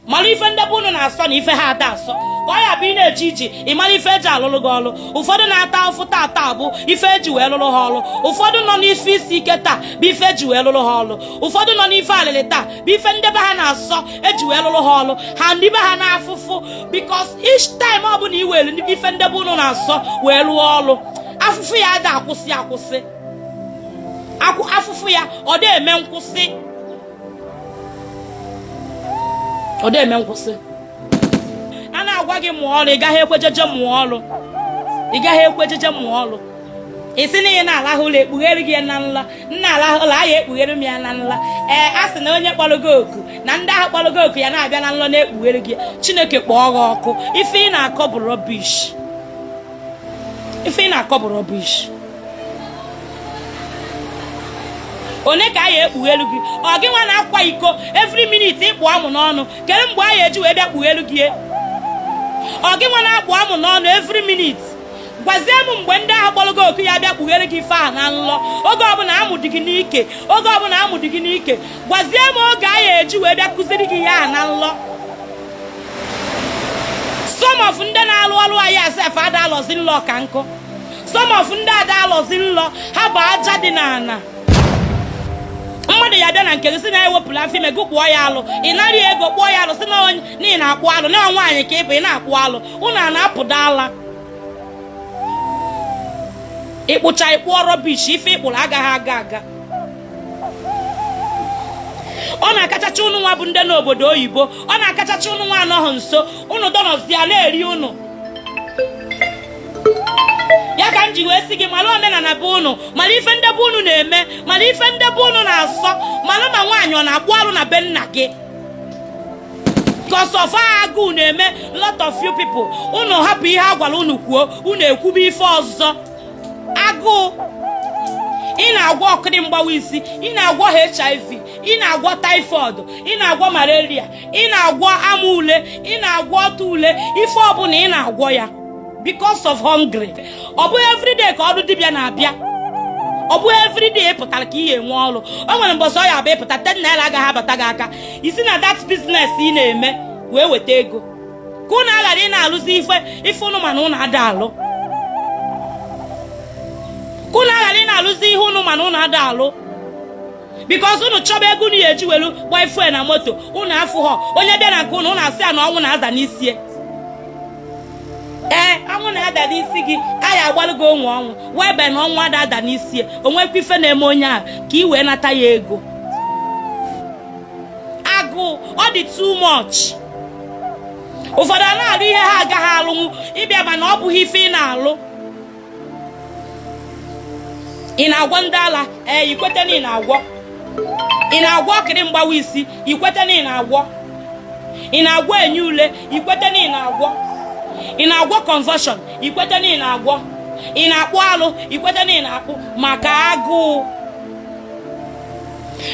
mara ife nde be unu na-asọ na ife ha ada asọ ka ọ ya abụ ị na-eje ije ị mara ife eji alụrụ gị ọrụ ụfọdụ na-ata afụfụ tata bụ ife eji wee lụrụ ha ọrụ ụfọdụ nọ n'ife isi ike taa bụ ife eji wee lụrụ ha ọrụ ụfọdụ nọ n'ife alịlị taa bụ ife nde be ha na-asọ eji wee lụrụ ha ọrụ ha ndị be ha n'afụfụ because each time ọ bụla i were ife nde be unu na-asọ wee lụọ ọrụ afụfụ ya ada akwụsị akwụsị afụfụ ya ọ dị eme nkwụsị ọ dị eme nkwụsị a na-agwa gị mụọ ọrụ ị gaghị ekwe jeje mụọ ọrụ ị gaghị ekwe jeje mụọ ọrụ ị sị na ị na-alahụ ụla ekpughere gị ya na nlọ m na-alahụ ụla a ya ekpughere m ya na nlọ ee a sị na onye kpọrọ gị oku na ndị ahụ kpọrọ gị oku ya na-abịa na nlọ na-ekpughere gị chineke kpọọ gị ọkụ ife ị na-akọ bụ rubbish ife ị na-akọ bụ rubbish onye ka a ya ekpughelu gị ọ gị nwa na-akwa iko every minute ịkpụ amụ n'ọnụ kedu mgbe a ya eji wee bịa kpughelu gị ọ gị nwa na-akpụ amụ n'ọnụ every minute gwazie m mgbe ndị ahụ kpọrọ gị oku ya bịa kpughere gị ife ahụ na nlọ oge ọbụla amụ dị gị n'ike oge ọbụla amụ dị gị n'ike gwazie m oge a ya eji wee bịa kụziri gị ya na nlọ some of ndị na-alụ ọlụ anyị a sef ada alọzi nlọ ka nkụ some of ndị ada alọzi nlọ ha bụ aja dị n'ala mmadụ ya bịa na nke gị sị na ewepụla m afọ ime gị kpụọ ya alụ ị nara ego kpụọ ya alụ sị na onye nri na-akpụ alụ na nwaanyị ka ị bụ ị na-akpụ alụ ụnụ a na-apụda ala ị kpụcha ị kpụọ rubbish ife ị kpụrụ agaghị aga aga ọ na-akachacha ụnụ nwa bụ ndị nọ obodo oyibo ọ na-akachacha ụnụ nwa anọghị nso ụnụ dọnọzia na-eri ụnụ ya ka m ji wee sị gị mara omenala be ụnụ mara ife nde be ụnụ na-eme mara ife nde be ụnụ na-asọ mara ma nwaanyị ọ na-akpụ arụ na be nna gị because of agụụ na-eme lot of you people ụnụ hapụ ihe a gwara ụnụ kwuo ụnụ ekwube ife ọzọ agụụ ị na-agwọ okiri mgbawa isi ị na-agwọ hiv ị na-agwọ typhoid ị na-agwọ malaria ị na-agwọ amụ ule ị na-agwọ ọtụ ule ife ọbụla ị na-agwọ ya because of hungry ọ bụghị everyday ka ọrụ dibịa na-abịa ọ bụghị everyday ị pụtara ka ị ya enwe ọrụ o nwere mbọsị ọ ya abụ ị pụta ten naira agaghị abata gị aka i si na that business ị na-eme wee weta ego ka ụnụ aghara ị na-alụzi ife ife ụnụ ma na ụnụ ada alụ ka ụnụ aghara ị na-alụzi ihe ụnụ ma na ụnụ ada alụ because ụnụ chọba ego ụnụ ya eji welu gbaa ife na moto ụnụ afụghọ onye bịa na nke ụnụ ụnụ asị ya na ọnwụ na-ada n'isi ee ọnwụ na-ada n'isi gị a ya agbalụ gị onwe ọnwụ whereby na ọnwụ ada ada n'isi o nwekwa ife na-eme onye ahụ ka ị wee nata ya ego agụụ ọ dị too much ụfọdụ a na-alụ ihe ha agaghị alụnwu ịbịa mana ọ bụghị ife ị na-alụ ị na-agwọ ndị ala ee ikwete na ị na-agwọ ị na-agwọ okiri mgbawa isi ikwete na ị na-agwọ ị na-agwọ enyi ule ikwete na ị na-agwọ ị na-agwọ convulsion ikwete na ị na-agwọ ị na-akpụ alụ ikwete na ị na-akpụ maka agụụ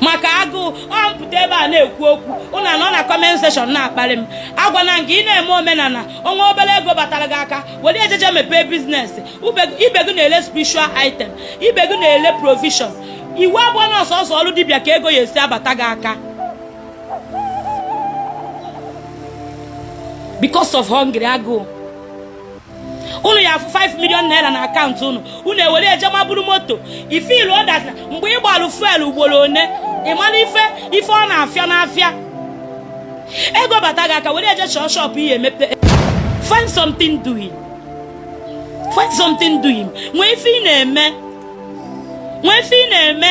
maka agụụ ọ m pụta ebe a na-ekwu okwu ụnụ anọ na comment section na-akparị m agwana m gị ị na-eme omenala o nwee obere ego batara gị aka were e jeje mepee business ibe gị na-ele spiritual item ibe gị na-ele provision iwu abụghọ na ọ sọsọ ọrụ dibịa ka ego ya esi abata gị aka because of hungry agụụ unu ya afụ 5 million naira na akaụntụ unu unu ewere e je maburu moto ifilu ọdat mgbe ị gbalụ fuel ugboro one ịmana ife ife ọ na-afịa n'afịa ego bata gị aka were e je chọọ shop ị ya emepe find something doing find something doing nwee ife ị na-eme nwee ife ị na-eme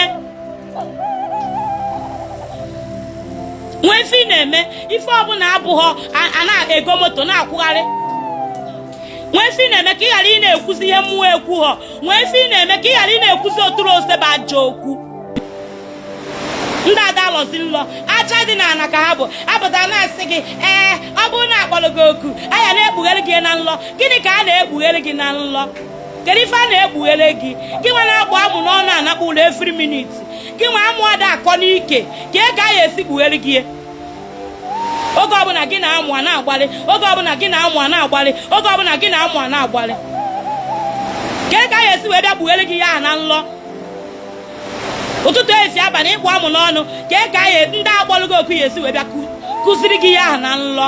nwee ife ị na-eme ife ọbụla abụghọ a- a na-ego moto na-akwụgharị nwee ife ị na-eme ka ị ghara ị na-ekwuzi ihe mmụọ ekwughọ nwee ife ị na-eme ka ị ghara ị na-ekwuzi oturu ose bụ ajọ okwu ndị ada alọzi nlọ aja dị n'ala ka ha bụ apụta na-asị gị ee ọ bụrụ na akpọrọ gị oku a ya na-ekpughere gị na nlọ gịnị ka a na-ekpughere gị na nlọ kedu ife a na-ekpughere gị gị nwa na-akpụ amụ n'ọnụ anakpọ ụlọ every minute gị nwa amụ ada akọ n'ike kee ka a ya esi kpughere gị oge ọbụla gị na amụ a na-agbalị oge ọbụla gị na amụ a na-agbalị oge ọbụla gị na amụ a na-agbalị kee ka a ya esi wee bịa kpughere gị ya na nlọ ụtụtụ esi abalị ịkpụ amụ n'ọnụ kee ka a ya ndị akpọrọ gị oku ya esi wee bịa kụziri gị ya na nlọ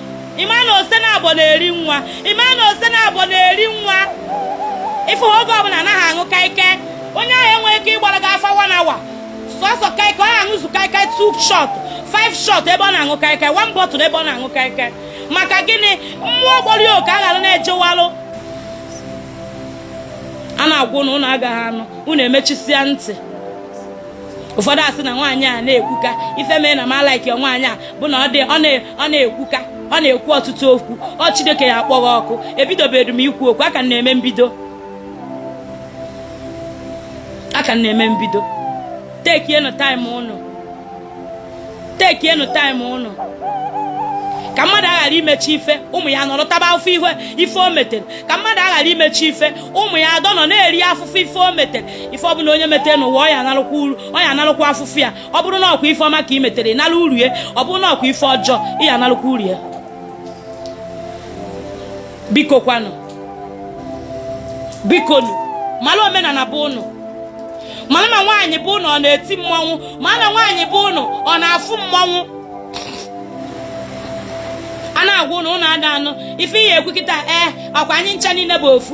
ịma na ose naabọ na-eri nwa ịma na ose naabọ na-eri nwa ịfụ ha oge ọbụla anaghị aṅụ kaikai onye ahụ enweghị ike ịgbara gị afa one hour sọsọ kaikai ọ ya aṅụzu kaikai two shot five shot ebe ọ na-aṅụ kaikai one bottle ebe ọ na-aṅụ kaikai maka gịnị mmụọ gbọrọ ya oke aghara na-ejewalụ a na-agwa ụnụ ụnụ agaghị anụ ụnụ emechisịa ntị ụfọdụ asị na nwaanyị a na-ekwuka ife mee na m a like nwaanyị a bụ na ọ na-ekwuka ọ na-ekwu ọtụtụ okwu ọ Chineke ya akpọ gị ọkụ ebidobedu m ikwu okwu a ka na-eme mbido a ka na-eme mbido tekienụ taịm ụnụ tekienụ taịm ụnụ ka mmadụ aghara imechi ife ụmụ ya nọrọ taba afụfụ ife o metere ka mmadụ aghara imechi ife ụmụ ya adọ nọ na-eri afụfụ ife o metere ife ọ bụla onye metere n'ụwa ọ ya analụkwa uru ọ ya analụkwa afụfụ ya ọ bụrụ na ọkwa ife ọma ka ị metere ị nalụ uru ya ọ bụrụ na ọkwa ife ọjọọ ị ya analụkwa uru ya biko kwanụ bikonu mara omenala be ụnụ mara ma nwaanyị be ụnụ ọ na-eti mmọnwụ mara ma nwaanyị be ụnụ ọ na-afụ mmọnwụ a na-agwa ụnụ ụnụ ada anụ ife ị ya ekwu kịta ee eh, ọkwa anyị ncha niile bụ ofu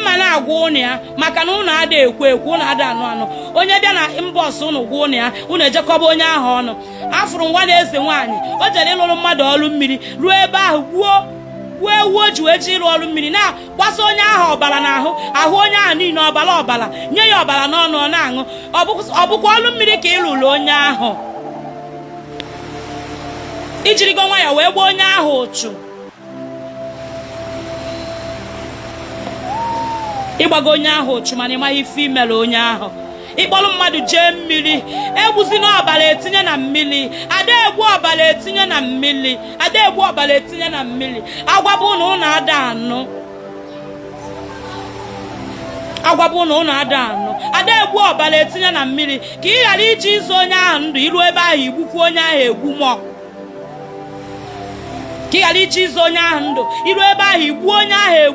mma na-agwa ụnụ ya maka na ụnụ ada ekwu ekwu ụnụ ada anụ anụ onye bịa na inbox ụnụ gwa ụnụ ya ụnụ eje kọba onye ahụ ọnụ afụrụ nwa na eze nwaanyị o jere ịlụrụ mmadụ ọrụ mmiri ruo ebe ahụ gbuo gbuo ewu o ji wee je ịrụ ọrụ mmiri na-agbasa onye ahụ ọbara n'ahụ ahụ onye ahụ niile ọbara ọbara nye ya ọbara n'ọnụ ọ na-aṅụ ọ bụkwa ọrụ mmiri ka ị rụrụ onye ahụ i jirigo nwayọ wee gbaa onye ahụ uchu ị gbago onye ahụ uchu mana ị maghị ife i mere onye ahụ ị kpọrọ mmadụ jee mmiri egbuzina ọbara etinye na mmiri ada egbu ọbara etinye na mmiri ada egbu ọbara etinye na mmiri agwaba ụnụ ụnụ ada anụ agwaba ụnụ ụnụ ada anụ ada egbu ọbara etinye na mmiri ka ị ghara ije ịzọ onye ahụ ndụ i ruo ebe ahụ i gbukwuo onye ahụ egbu mọ ka ị ghara ije ịzọ onye ahụ ndụ i ruo ebe ahụ i gbuo onye ahụ egbu